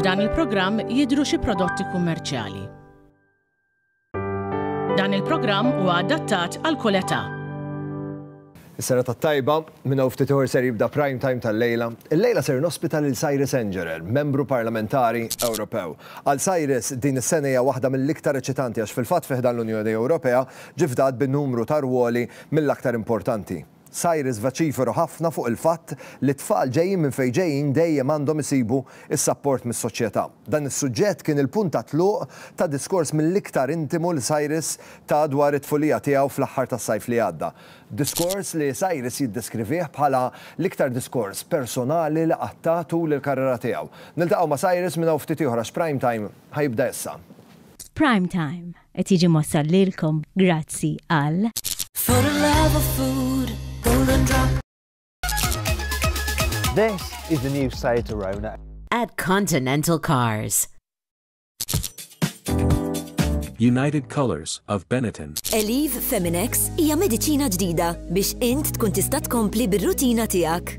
F'dan il-programm jidhru xi prodotti kummerċjali. Dan il-programm huwa adattat għal kull età. Is-serata t-tajba, minna u ftit ser jibda prime time tal-lejla. Il-lejla ser nospita lil Cyrus Engerer, membru parlamentari Ewropew. Għal Cyrus din is-sena hija waħda mill-iktar eċitanti għax fil-fatt fiħdan l-Unjoni Ewropea Ġie fdat bi numru ta' rwoli mill-aktar importanti. Cyrus vociferu ħafna fuq il-fatt li t-tfal ġejjin minn fejn ġejjin dejjem għandhom isibu s-sapport mis-soċjetà. Dan is-suġġett kien il-punt ta' tluq ta' diskors mill-iktar intimu li Cyrus ta dwar it-tfulija tiegħu fl-aħħar tas-sajf li għadda. Diskors li Cyrus jiddeskrivih bħala l-iktar diskors personali li qatt ta tul il-karriera tiegħu. Niltaqgħu ma' Cyrus minn hawn ftit ieħor għax Prime Time ħa jibda issa. Prime Time. Qed jiġi mwassal lilkom grazzi għal. For the love of food, golden drop. This is the new Seat Arona. At Continental Cars. United Colors of Benetton. Eliv Feminex hija mediċina ġdida biex int tkun tista' tkompli bir-rutina tiegħek.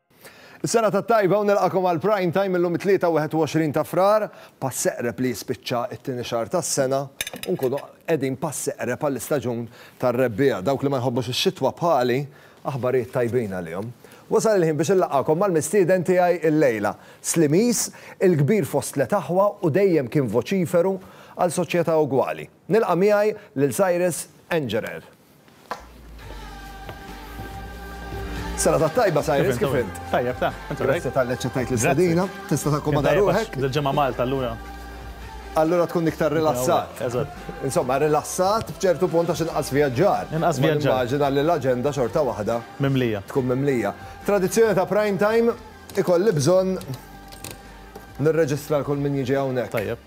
Is-sena tat-tajba u nilqagħkom għal Prime Time illum it-Tlieta 21 ta' Frar, pass eqreb li jispiċċa t-tieni xahar tas-sena u nkunu qegħdin pass eqreb għall-istaġun tar-rebbiegħa. Dawk li ma jħobbux ix-xitwa bħali, aħbarijiet tajbin għalihom. Wasal il-ħin biex inlaqgħakom mal-mistieden tiegħi illejla. Slimis, il-kbir fost tliet aħwa u dejjem kien voċiferu għal soċjetà ugwali. Nilqa' miegħi lil Cyrus Engerer. Sena ta' tajba sa' jiris kif int. Tajjeb ta' int. Grazie ta' leċċa tajt l-istadina, tista' ta' komoda ruħek. Dil-ġemma Malta allura. Allura tkun iktar rilassat. Eżatt. Insomma, rilassat b'ċertu punt għax inqas vjaġġar. Inqas vjaġġar. Immaġina li l-aġenda xorta waħda. Mimlija. Tkun mimlija. Tradizzjoni ta' prime time ikolli bżonn nirreġistra l-kull min jiġi hawnhekk. Tajjeb.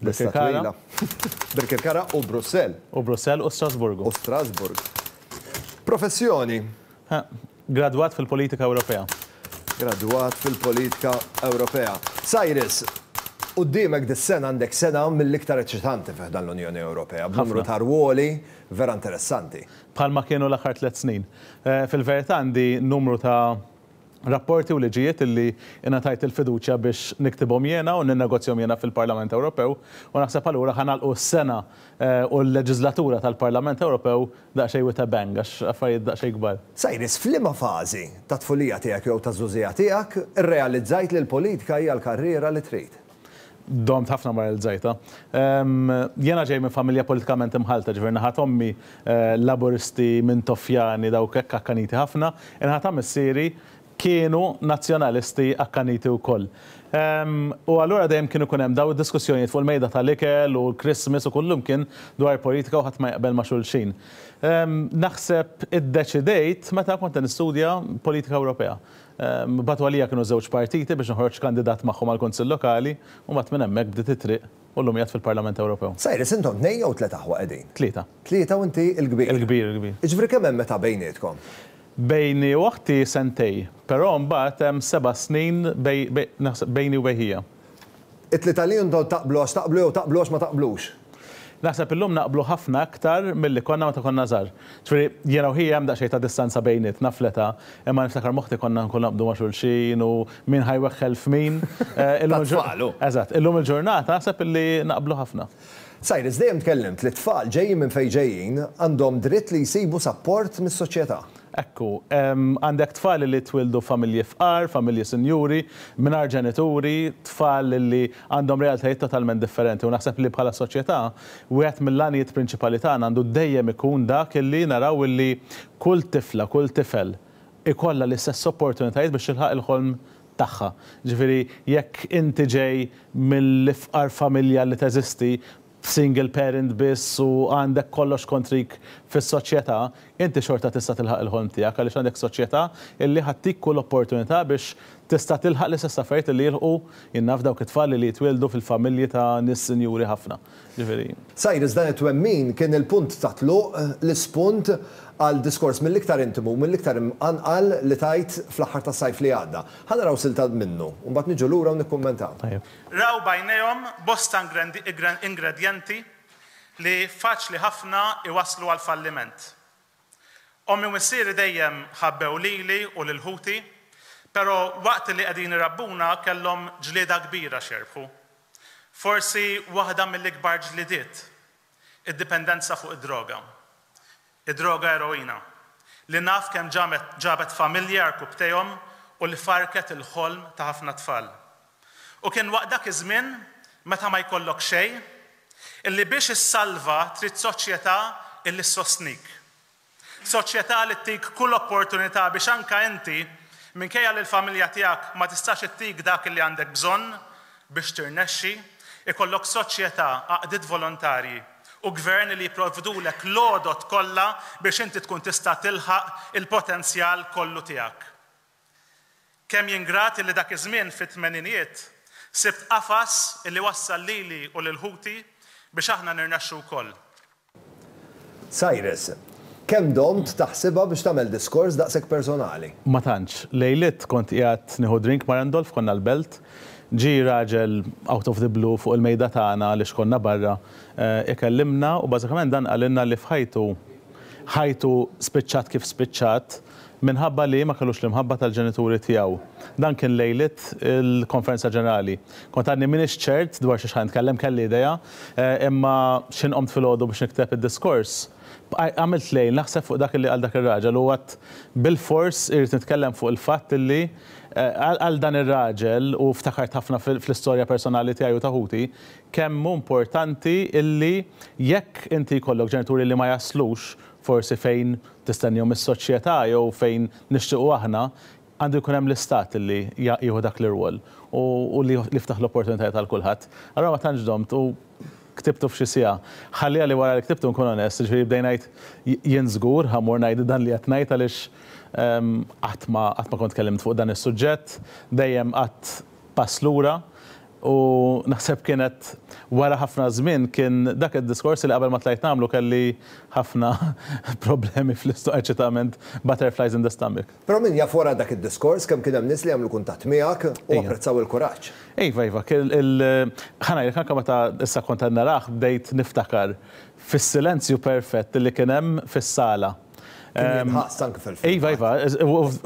Lista twila. Birkirkara u Brussell. U Brussell u Strasburgu. U Strasburg. Professjoni? Gradwat fil-politika Ewropea. Gradwat fil-politika Ewropea. Cyrus, quddiemek dis-sena għandek sena mill-iktar eċitanti fi ħdan l-Unjoni Ewropea, b'numru ta' rwoli vera interessanti. Bħalma kienu l-aħħar tliet snin. Fil-verità għandi numru ta' rapporti u liġijiet li ingħatajt il-fiduċja biex niktibhom jiena u ninnegozjahom jiena fil-Parlament Ewropew u naħseb allura ħa nagħlqu s-sena u l-leġiżlatura tal-Parlament Ewropew daqsxejn with a bang għax affarijiet daqsxejn kbar. Cyrus, f'liema fażi tat-tfulija tiegħek jew taż-żugħżigħa tiegħek irrealizzajt li l-politika hija l-karriera li trid? Domt ħafna ma realizzajtha. Jiena ġej minn familja politikament imħallta, ġifieri naħa t'ommi Laburisti, Mintoffjani, dawk hekk akkaniti ħafna, in-naħa ta' missieri kienu Nazzjonalisti akkaniti wkoll. U allura dejjem kien ikun hemm dawn id-diskussjonijiet fuq il-mejda tal-ikel u l-Christmas u kullimkien dwar politika u ħadd ma jaqbel ma' xulxin. Naħseb iddeċidejt meta kont qed nistudja politika Ewropea. Bagħtu għalija kienu żewġ partiti biex noħroġ kandidat magħhom għall-Kunsill Lokali u mbagħad minn hemmhekk bdiet it-triq u llum qiegħed fil-Parlament Ewropew. Cyrus, intom tnejn jew tliet aħwa qegħdin? Tlieta. Tlieta u inti l-kbir? Il-kbir, il-kbir. Jiġifieri kemm hemm età bejnietkom? Bejni u oħti sentejn, però mbagħad hemm seba' snin bejni u bejn ħija. It-tlieta li intom taqblu għax taqblu jew taqblu għax ma taqblux? Naħseb illum naqblu ħafna aktar milli konna meta konna żgħar. Ġifieri, jiena u hija hemm daqsxejn ta' distanza bejnietna fl-età, imma niftakar m'oħti konna nkunu naqbdu ma' xulxin u min ħa jweħħel f'min. Tat-tfal, hu. Eżatt. Illum il-ġurnata naħseb illi naqblu ħafna. Cyrus, dejjem tkellimt li t-tfal, ġejjin minn fejn ġejjin, għandhom dritt li jsibu sapport mis-soċjetà. Hekk hu. Għandek tfal li twildu f'familji fqar, familji sinjuri, mingħajr ġenituri, tfal li għandhom realtajiet totalment differenti u naħseb li bħala soċjetà wieħed mill-għanijiet prinċipali tagħna għandu dejjem ikun dak li naraw li kull tifla, kull tifel ikollha l-istess opportunitajiet biex tilħaq il-ħolm tagħha. Jiġifieri jekk inti ġej mill-ifqar familja li teżisti, single parent biss u għandek kollox kontrik fis-soċjetà, inti xorta tista' tilħaq il-ħolm tiegħek għaliex għandek soċjetà illi ħattik kull opportunità biex tista' tilħaq l-istess affarijiet illi jilħqu, jien naf dawk it-tfal illi jitwieldu fil-familji ta' nies sinjuri ħafna. Ġifieri. Cyrus, dan it-twemmin kien il-punt ta' tluq, l-ispunt, għal diskors mill-iktar intimu u mill-iktar imqanqal li tajt fl-aħħar tas-sajf li għadda. Ħa naraw silta minnu, u mbagħad niġu lura u nikkummentaw. Tajjeb. Raw b'għajnejhom bosta ingredjenti li faċli ħafna jwasslu għall-falliment. Ommi u missieri dejjem ħabbew lili u lil ħuti, però waqt li qegħdin irabbuna kellhom ġlieda kbira x'jerbħu. Forsi waħda mill-ikbar ġlidiet, id-dipendenza fuq id-droga. Id-droga eroina, li naf kemm ġabet familji għarkupptejhom u li farrket il-ħolm ta' ħafna tfal. U kien waqt dak iż-żmien, meta ma jkollok xejn, illi biex issalva trid soċjetà illi ssostnik. Soċjetà li ttik kull opportunità biex anke inti, minkejja li l-familja tiegħek ma tistax ittik dak li għandek bżonn biex tirnexxi, ikollok soċjetà, għaqdiet volontarji, u gvern li jipprovdulek l-għodod kollha biex inti tkun tista' tilħaq il-potenzjal kollu tiegħek. Kemm jien grat illi dak iż-żmien fit-tmeninijiet sibt qafas illi wassal lili u lil ħuti biex aħna nirnexxu wkoll. Cyrus, Kemm domt taħsibha biex tagħmel diskors daqshekk personali? Ma tantx. Lejliet kont qiegħed nieħu drink ma' Randolph, konna l-Belt, ġie raġel out of the blue fuq il-mejda tagħna għaliex konna barra, ikellimna u bażikament dan qalilna li f'ħajtu, Ħajtu spiċċat kif spiċċat minħabba li ma kellux l-imħabba tal-ġenituri tiegħu. Dan kien lejliet il-Konferenza Ġenerali. Kont għadni m'iniex ċert dwar xiex ħa nitkellem, kelli idea, imma xħin qomt filgħodu biex nikteb id-diskors, bqajt għamilt lejl naħseb fuq dak li qal dak ir-raġel u għadt bilfors irrid nitkellem fuq il-fatt li għal dan ir-raġel, u ftakart ħafna fl-istorja personali tiegħi u ta' ħuti, kemm hu importanti illi jekk inti jkollok ġenituri li ma jaslux forsi fejn tistennihom is-soċjetà jew fejn nixtiequ aħna, għandu jkun hemm l-Istat illi jieħu dak l-irwol u u li jiftaħ l-opportunitajiet għal kulħadd. Allura ma tantx domt u ktibtu f'xi siegħa. Ħalliha li wara li ktibtu nkun onest, jiġifieri bdejt ngħid jien żgur ha mmur ngħid dan li qed ngħid għaliex qatt ma qatt ma kont tkellimt fuq dan is-suġġett, dejjem qgħadt pass lura, U naħseb kienet wara ħafna żmien kien dak id-diskors li qabel ma tlajt nagħmlu kelli ħafna problemi fl-isto, eċitament, butterflies in the stomach. Però min jaf wara dak id-diskors kemm kien hemm nies li għamlu kuntatt miegħek u apprezzaw il-kuraġġ. Iva, iva. Ħa ngħidlek, anke meta issa kont qed narah bdejt niftakar fis-silenzju perfett li kien hemm fis-sala. Ħaqs anke fil-film. Iva, iva,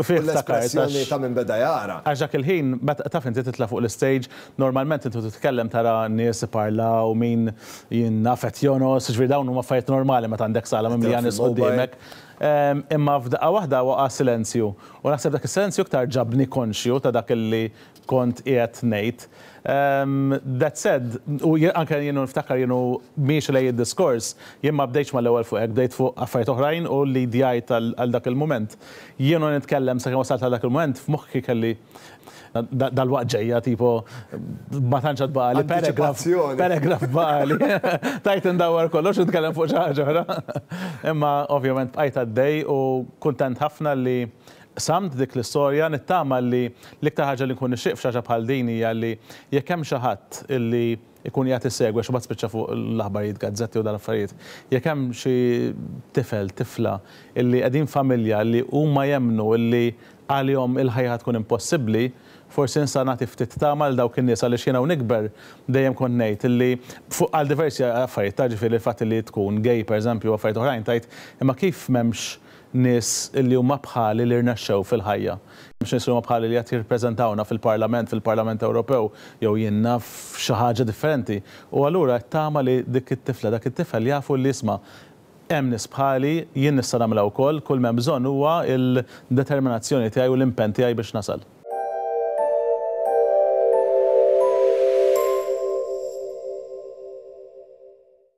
fih l-espressjoni ta' minn beda jara. Għax dak il-ħin, taf inti titla' fuq l-istage, normalment inti titkellem tara nies iparlaw, min jinnaf qed jonos, jiġifieri dawn huma affarijiet normali meta għandek sala mimlija nies quddiemek. Imma f'daqqa waħda waqa' silenzju. U naħseb dak is-silenzju iktar ġabni konxju ta' dak li kont qiegħed ngħid. That said, u jien anke jien u niftakar jien u miexi lejn id-diskors, jien ma bdejtx mal-ewwel fuq hekk, bdejt fuq affarijiet oħrajn u li djajt għal dak il-mument. Jien u nitkellem sakemm wasalt għal dak il-mument, f'moħħi kelli dalwaqt ġejja tipo ma tantx għad baqali paragraf, paragraf baqali. Tajt indawwar kollox u nitkellem fuq xi ħaġa oħra. Imma ovvjament bqajt għaddej u kuntent ħafna li Qsamt dik l-istorja, nittama li l-iktar ħaġa li nkun nixtieq f'xi ħaġa bħal din hija li jekk hemm xi ħadd li jkun qiegħed isegwi għax imbagħad spiċċa fuq l-aħbarijiet, gazzett jew dawn l-affarijiet, jekk hemm xi tifel, tifla li qegħdin familja li huma jemmnu li għalihom il-ħajja ħa tkun impossibbli, forsi nista' nagħti ftit tama lil dawk in-nies għaliex jiena u nikber dejjem kont ngħid li fuq għal diversi affarijiet ta' ġifieri l-fatt li tkun gay pereżempju u affarijiet oħrajn tgħid imma kif m'hemmx nies li huma bħali li rnexxew fil-ħajja. Hemmx nies li huma bħali li qed jirrappreżentawna fil-Parlament, fil-Parlament Ewropew, jew jien naf xi ħaġa differenti. U allura qed tama li dik it-tifla, dak it-tifel jafu li isma', hemm nies bħali, jien nista' nagħmilha wkoll, kull m'hemm bżonn huwa l-determinazzjoni tiegħi u l-impenn tiegħi biex nasal.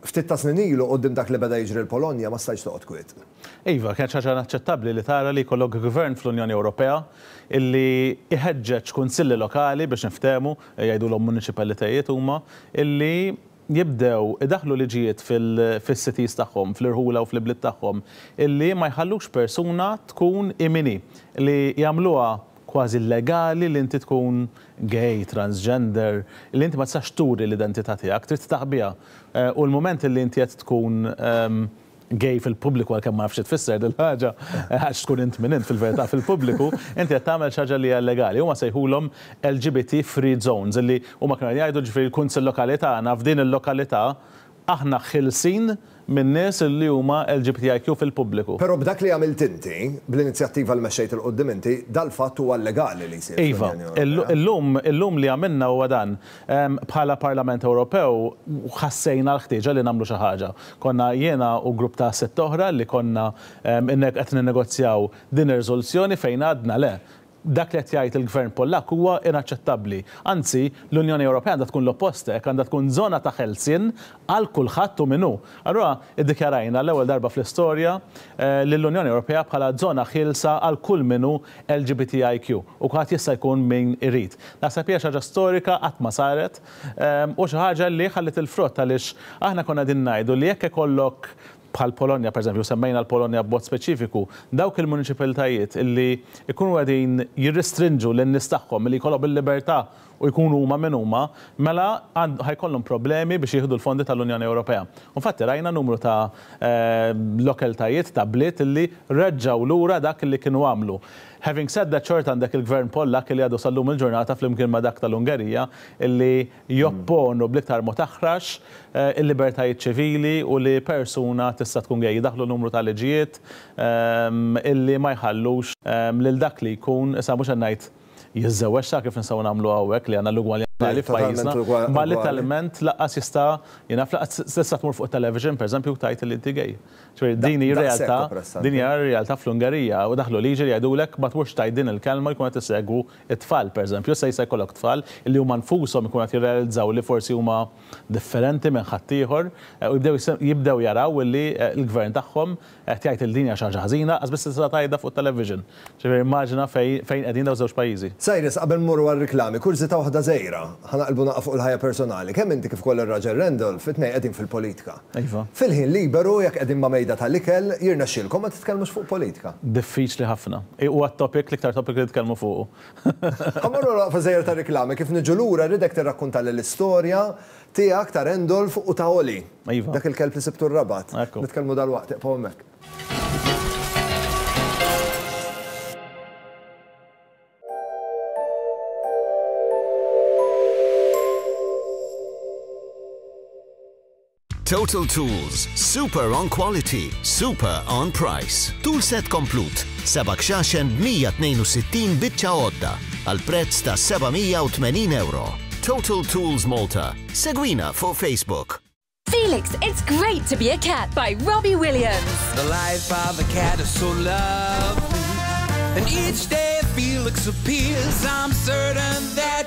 Ftit ta' snin ilu, quddiem dak li beda jiġri l-Polonja ma stajtx toqgħod kwiet. Iva, kienet xi ħaġa inaċċettabbli li tara li jkollok gvern fl-Unjoni Ewropea illi jħeġġeġ kunsilli lokali biex niftehmu, jgħidulhom muniċipalitajiet huma, illi jibdew idaħħlu liġijiet fil-cities tagħhom, fl-irħula u fl-ibliet tagħhom, illi ma jħallux persuna tkun hi min hi, li jagħmluha kważi illegali li inti tkun gay, transgender, li inti ma tistax turi l-identità tiegħek, trid titaq biha. U l-mument li inti qed tkun gay fil-pubbliku, għalkemm ma nafx xi tfisser din il-ħaġa, għax tkun int min int fil-verità fil-pubbliku, inti qed tagħmel xi ħaġa li hija illegali. Huma sejħulhom LGBT free zones, li huma kienu qed jgħidu ġifieri l-Kunsill Lokali tagħna f'din il-lokalità Aħna ħielsin minn nies li huma LGBTIQ fil-pubbliku. Però b'dak li għamilt inti, bl-inizjattiva li mexxejt 'il quddiem inti, dal-fatt huwa llegali li jsir fl-Unjoni Ewropea. Iva. Illum, illum li għamilna huwa dan. Bħala Parlament Ewropew ħassejna l-ħtieġa li nagħmlu xi ħaġa. Konna jiena u grupp ta' sitt oħra li konna qed ninnegozjaw din ir-riżoluzzjoni fejn għadna le, Dak li qed jgħid il-Gvern Pollakk huwa inaċċettabbli. Anzi, l-Unjoni Ewropea għandha tkun l-oppost hekk, għandha tkun żona ta' ħelsien għal kulħadd hu min hu. Allura iddikjarajna għall-ewwel darba fl-istorja lill-Unjoni Ewropea bħala żona ħielsa għal kull min hu LGBTIQ u kulħadd jista' jkun min irid. Naħseb hija xi ħaġa storika qatt ma saret u xi ħaġa li ħalliet il-frott għaliex aħna konna qegħdin ngħidu li jekk ikollok bħall-Polonja pereżempju, u semmejna l-Polonja b'mod speċifiku, dawk il-muniċipiltajiet li jkunu qegħdin jirrestrinġu lin-nies tagħhom milli jkollhom il-libertà u jkunu huma min huma, mela ħa jkollhom problemi biex jieħdu l-fondi tal-Unjoni Ewropea. U infatti rajna numru ta' lokeltajiet, ta' bliet li reġġgħu lura dak li kienu għamlu. Having said that xorta għandek il-Gvern Pollakk li għadu sal-lum il-ġurnata flimkien ma' dak tal-Ungerija li jopponu bl-iktar mod aħrax il-libertajiet ċivili u li persuna tista' tkun gay. Daħlu numru ta' liġijiet illi ma jħallux lil dak li jkun, issa mhux qed ngħid jiżżewweġ sa kif nistgħu nagħmlu hawnhekk li għandna l-ugwaljanza totali f'pajjiżna, imma letteralment lanqas jista' jingħad lanqas tista' tmur fuq it-television pereżempju u tgħid li inti gay. Ġifieri din hi realtà, din hija r-realtà fl-Ungerija u daħlu liġi li jgħidulek ma tmurx tgħid din il-kelma jkun qed isegwu It-tfal, pereżempju, issa jista' jkollok tfal li huma nfushom ikunu qed jirrealizzaw li forsi huma differenti minn ħaddieħor u jibdew jibdew jaraw li l-gvern tagħhom qed jgħid li din hija xi ħaġa ħażina, lanqas biss tista' tgħidha fuq it-television. Ġifieri immaġina fejn fejn qegħdin dawn iż-żewġ pajjiżi. Cyrus, qabel mmorru għar-riklami, kurżità waħda żgħira. Ħa naqilbu naqgħa fuq il-ħajja personali. Kemm inti kif ukoll ir-raġel Randolph, it-tnejn qegħdin fil-politika. Iva. Fil-ħin liberu, jekk qegħdin ma' mejda tal-ikel, jirnexxielkom ma titkellmux fuq politika? Diffiċli ħafna. Huwa t-topic, l-iktar topic li nitkellmu fuqu. Ħa mmorru naqgħu fiż-żejjer tar-riklami. Kif niġu lura, rridek tirrakkuntali l-istorja tiegħek, ta' Randolph u ta' Oli. Iva. Dak il-kelb li sibtu r-Rabat. Ekku. Nitkellmu dalwaqt, iqfu hemmhekk. Total Tools, super on quality, super on price. Tool set komplut, seba' kxaxen b'162 biċċa għodda għal prezz ta' 780 euro. Total Tools Malta. Segwina fuq Facebook. Felix, it's great to be a cat by Robbie Williams. The life of a cat is so lovely. And each day Felix appears, I'm certain that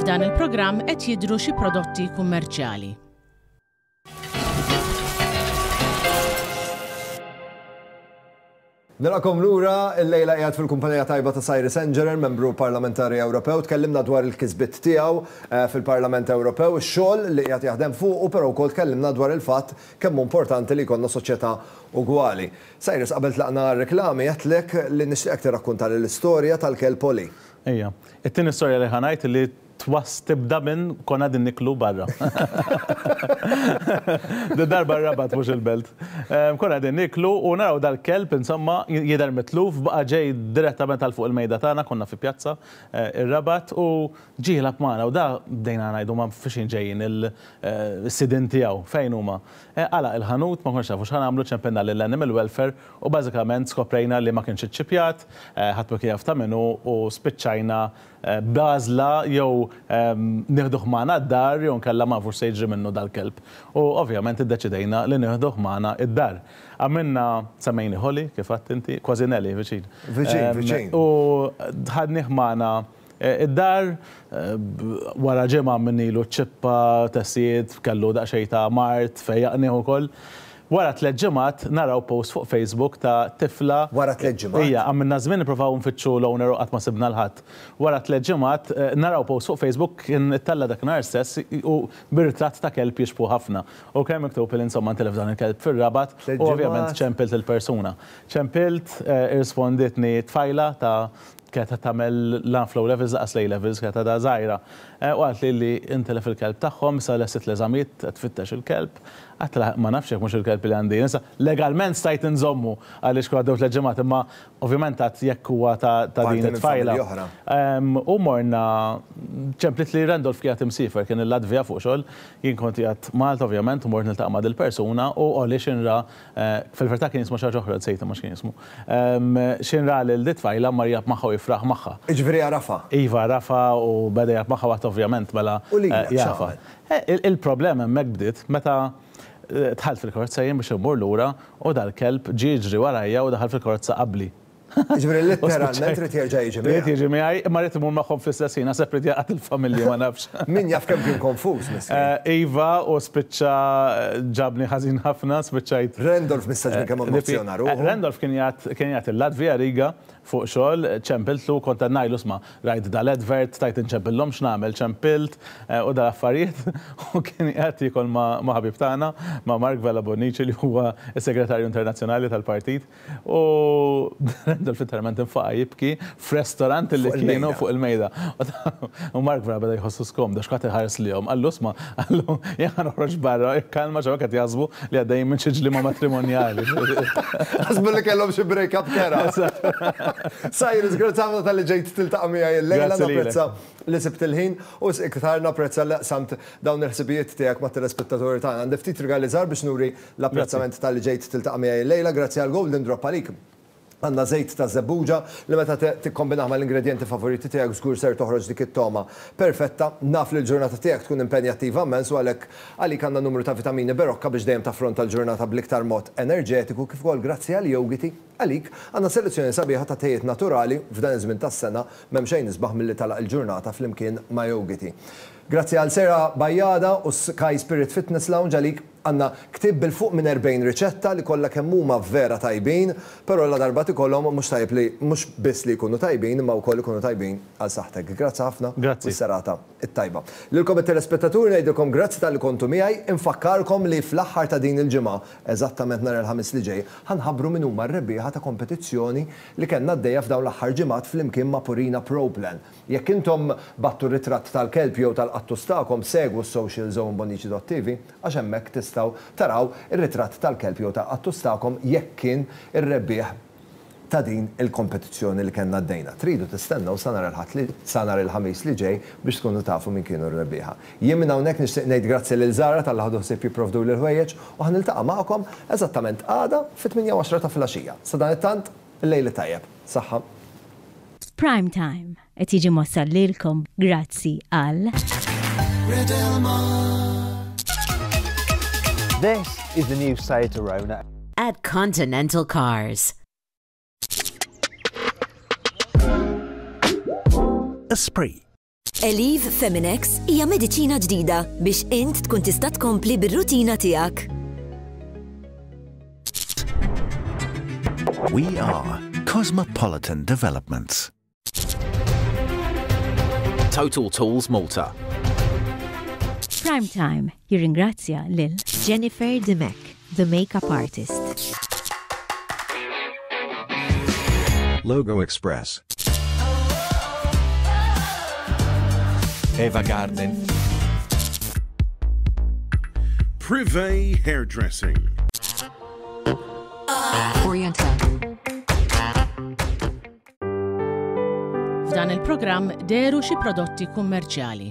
F'dan il-programm qed jidhru xi prodotti kummerċjali. Nilaqkom lura, il-lejla qiegħed fil-kumpanija tajba ta' Sajri Sengerer, membru parlamentari Ewropew, tkellimna dwar il-kisbit tiegħu eh, fil-Parlament Ewropew, xogħol li qiegħed jaħdem fuq u però wkoll tkellimna dwar il-fatt Kemm hu importanti li jkollna soċjetà ugwali. Cyrus, qabel tlaqna għar-reklami għedtlek li nixtieqek tirrakkuntali l-istorja tal-kelb Polly. Ejja. It-tieni storja li ħa ngħid li twas tibda minn konna qegħdin niklu barra. Darba r-Rabat mhux il-Belt. Konna qegħdin niklu u naraw dal-kelb insomma jidher mitluf baqa' ġej direttament għal fuq il-mejda tagħna, konna fi pjazza ir-Rabat u Ġie jilgħab magħna u da, bdejna ngħidu ma fi xejn ġejjin is-sidien tiegħu, fejn huma? Għalaq il-ħanut, ma konniex nafu x'ħa nagħmlu, ċempilna lill-Animal Welfare u bażikament skoprejna li ma kienx iċċipjat, ħadd ma kien jaf ta' min hu u spiċċajna b'għażla jew nieħduh magħna d-dar jew inkella ma nafu x'se jiġri minnu dal-kelb. U ovvjament iddeċidejna li nieħduh magħna d-dar. Għamilna, semmejni Holly, kif għedt inti, kważi Nellie, viċin. Viċin, viċin. U ħadnih magħna Id-dar, wara ġimgħa minn ilu ċċippa, tessied, kellu daqsxejn ta' mard, fejjaqnieh ukoll. Wara tliet ġimgħat naraw post fuq Facebook ta' tifla. Wara tliet ġimgħat? Ija, għamilna żmien nipprovaw nfittxu l-owner u qatt ma sibna 'l ħadd. Wara tliet ġimgħat naraw post fuq Facebook kien ittella' dak nhar stess u bi ritratt ta' kelb jixbħu ħafna. U kien miktub li insomma ntilef dan il-kelb fir-Rabat u ovvjament ċempilt lill-persuna. Ċempilt, irrispondietni tfajla ta' kienet qed tagħmel la fl-O Levels lanqas l-A Levels, kienet għadha żgħira, u qaltli li intilef il-kelb tagħhom, issa lestiet l-eżamijiet, qed tfittex il-kelb. Għedtilha ma nafx jekk mhux il-kelb li għandi jien. Issa, legalment stajt inżommu għaliex kienu għaddew tliet ġimgħat, imma ovvjament għad jekk huwa ta' din it-tfajla. U morna, ċemplitli Randolph kien qiegħed imsiefer, kien il-Latvja fuq xogħol, jien kont qiegħed Malta ovvjament u mort niltaqa' ma' dil-persuna u Oli x'inra Fil-vertà kien jismu xi ħaġa oħra, nsejt imma x'kien jismu. Xejn ra lil di tfajla u mar jgħab magħha u jifraħ magħha. Jiġifieri għarafha? Iva għarafha u beda jgħab magħha waqt ovvjament mela jafha. Il-problema hemmhekk bdiet meta dħalt fil-karozza jien biex immur lura u dal-kelb ġie jiġri warajja u daħal fil-karozza qabli. Ġifieri litteralment irid jerġa' jiġi miegħi. Irid jiġi miegħi, imma rrid imur magħhom fl-istess ħin, naħseb li jaqgħad il-familja ma nafx. Min jaf kemm kien konfuż miskien. Iva, u spiċċa ġabni ħażin ħafna, spiċċajt. Randolph mistgħax minn kemm emozjona ruħu. Randolph kien jgħid il-Latvija, Riga, fuq xogħol, ċempiltlu u kont qed ngħidlu isma' rajt dal-advert, stajt inċempillhom x'nagħmel, ċempilt u dal-affarijiet u kien qiegħed jiekol ma' ħabib tagħna, ma' Mark Vella Bonnici li huwa s-Segretarju Internazzjonali tal-Partit. U Rendel f'interment infaqa' jibki f'restorant li kienu fuq il-mejda. U Mark vera beda jħossu skomd għax kulħadd iħares lihom. Qallu, Isma', qallu, jien ħa noħroġ barra, ikkalma għax hawnhekk qed jaħsbu li għaddejjin minn xi ġliema matrimonjali. Ħasbu li kellhom xi break up kera. Cyrus, grazzi ħafna talli ġejt tiltaqa' miegħi illejla. Napprezza li sibt il-ħin u iktar napprezza li qsamt dawn il-ħsibijiet tiegħek mat-telespettaturi tagħna. Għandi ftit rigali żgħar biex nuri L-apprezzament talli ġejt tiltaqa' miegħi llejla, grazzi għal Golden Drop għalik għandna żejt ta' żebbuġa li meta tikkombinah mal-ingredjenti favoriti tiegħek żgur ser toħroġ dik it-togħma perfetta. Naf li l-ġurnata tiegħek tkun impenjattiva immens u għalhekk għalik għandna numru ta' vitamini berokka biex dejjem taffronta l-ġurnata bl-iktar mod enerġetiku kif ukoll grazzi għal Yogiti għalik għandna selezzjoni sabiħa ta' tejiet naturali f'dan iż-żmien tas-sena m'hemm xejn isbaħ milli tagħlaq il-ġurnata flimkien ma' Yogiti. Grazzi għal Sera Bajada u Sky Spirit Fitness Lounge għalik. Għandna ktieb bil-fuq minn erbgħin riċetta li kollha kemm huma vera tajbin, però la darba tikolhom mhux tajjeb li mhux biss li jkunu tajbin imma wkoll ikunu tajbin għal saħħtek. Grazzi ħafna u s-serata t-tajba. Lilkom it-telespettaturi ngħidilkom grazzi talli kontu miegħi. Infakkarkom li fl-aħħar ta' din il-ġimgħa, eżattament nhar il-Ħamis li ġej, ħa nħabbru min huma r-rebbieħa ta' kompetizzjoni li kellna għaddejja f'dawn l-aħħar ġimgħat flimkien ma' Purina Pro Plan. Jekk intom bagħttu ritratt tal-kelb jew tal-qattus tagħkom, segwu s-socials jew imbonnici.tv għax hemmhekk tistgħu taraw ir-ritratt tal-kelb jew tal-qattus tagħkom jekk kien ir-rebbieħ ta' din il-kompetizzjoni li kellna għaddejna. Tridu tistennew sa nhar il-Ħadd li sa nhar il-Ħamis li ġej biex tkunu tafu min kienu r-rebbieħa. Jien minn hawnhekk nixtieq ngħid grazzi lil Zara talli ħadu ħsieb jipprovduli l-ħwejjeġ u ħa niltaqa' magħkom eżattament għada fit-tmienja u għaxra ta' filgħaxija. Sadanittant, il-lejl it-tajjeb. Saħħa. Prime Time qed jiġi mwassal lilkom grazzi għal. This is the new Seat Arona. At Continental Cars. Esprit. Elif Feminex hija mediċina ġdida biex int tkun tista' tkompli bir-rutina tiegħek. We are Cosmopolitan Developments. Total Tools Malta. Prime Time Jirringrazzja lil. Jennifer Dimech, the makeup artist. Logo Express. Eva Garden. Privé Hairdressing. F'dan il-programm deru xi prodotti kummerċjali.